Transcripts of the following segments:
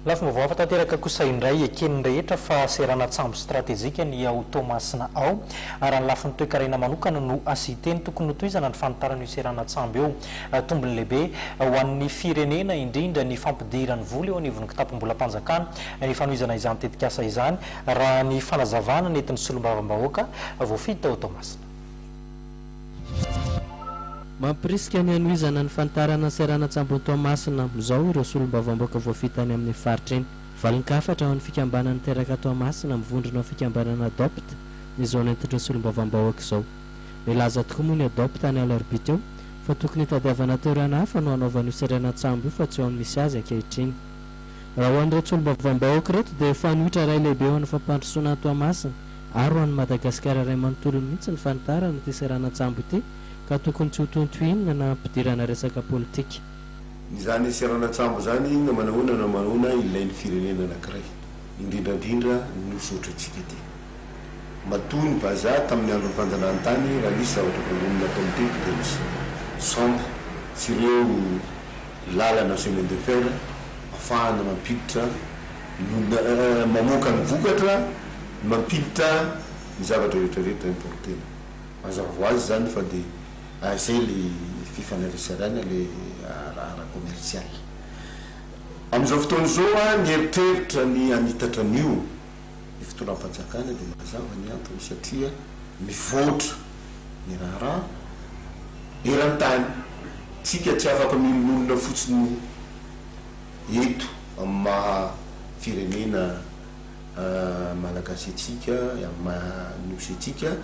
Lafim-baovao hafa tanteraka kosa indray eken'ny rehetra fa seranan-tsambo stratejika ny ao Toamasina ao. Raha ny lafiny toekarena manokana no asiteny, tokony notohizana ny fanitarana io seranan-tsambo io. Tombony lehibe ho an'ny firenena indrindra ny fampidirany vola eo anivon'ny kitapom-bolam-panjakana ny fanohizana izany tetikasa izany, raha ny fanazavana nentin'ny solombavambahoaka voafidy tao Toamasina. Mampirisika ny hanohizana ny fanitarana seranan-tsambon'i Toamasina amin'izao ireo solombavambaoka voafita any amin'iny faritra iny. Valin-kafatra ho an'ny fikambanana Teraka Toamasina mivondrona ho fikambanana Adopt ny zao nentin'ireo solombavambahoaka izao. Nilaza tokoa moa ny Adopt ny alarobia teo fa tokony hitadiavana toerana hafa no hanaovana io seranan-tsambo io fa tsy eo amin'ny misy azy ankehitriny. Raha ho an'ireto solombavambahoaka ireto dia fanoitra iray lehibe ho an'ny fampandrosoana an'i Toamasina. ary ho an'i Madagasikara iray manontolo mihitsy ny fanitarana ity seranan-tsambo ity ka tokony tsy hotohintohinina na hampidirana resaka politika. Izany seranan-tsambo izany na manahoana na manahoana ilain'ny firenena anankiray, indrindrandrindra ny Nosy ohatrantsika ity. Matoa ny vazaha tamin'ny andron'ny fanjanahantany raha nisy zavatra voalohany nataony teto dia ny sambo sy ireo lalana chemin de fer afahana mampiditra no mamoaka ny vokatra mampiditra ny zavatra rehetra rehetra importena. Mazava ho azy izany fa dia izay le fifanaretsarana le ara ara commercial. Amin'izao fotoana izao aho nieritreritra ny hanitatra an'io ny fitondram-panjakana dia mazava ny antony satria mivoatra ny raharaha eran-tany. Tsika tsy afaka miombon'olona fotsiny io. eto amin'ny maha firenena Malagasy antsika, amin'ny maha Nosy antsika,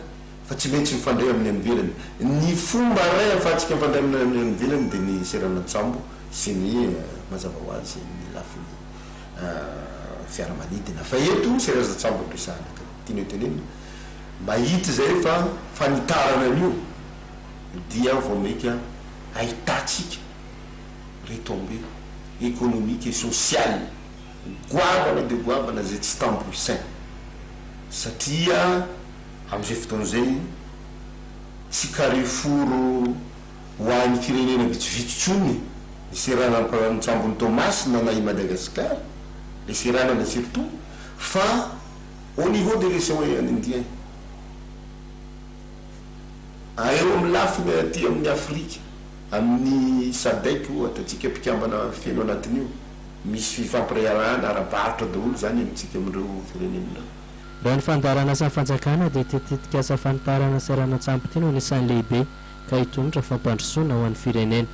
fa tsy maintsy mifandray amin'ny any ivelany. Ny fomba iray ahafahantsika mifandray amin'ny any ivelany dia ny seranan-tsambo sy ny mazava ho azy ny lafiny fiaramanidina. Fa eto serazan-tsambo no resahana ka tianay tenenina, mba hita izay fa fanitarana an'io dia vao mainka ahitantsika retombées économiques et sociales goavana dia goavana izay tsy tambo isaina satria amin'izay fotoana izay tsy carrefour ho an'ny firenena vitsivitsy intsony ny seranam-pantsambon'i Toamasina na i Madagascar ilay seranana surtout fa au niveau de l'océan Indien a eo amin'ny lafiny aty amin'ny Afrika Amin'ny Sadec ohatra, tsika mpikambana feno anatin'io, misy fifampiraharahana ara-barotra daholo izany amintsika amin'ireo firenena. Raha ny fandaharan'asan'ny fanjakana dia ity tetikasa fanitarana seranan-tsampy ity no anisan'ny lehibe ka hitondra fampandrosoana ho an'ny firenena.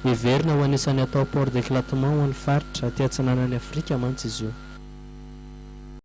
Heverina ho anisan'ny hatao port d'éclatement ho an'ny faritra aty atsinanan'i Afrika mantsy izy io.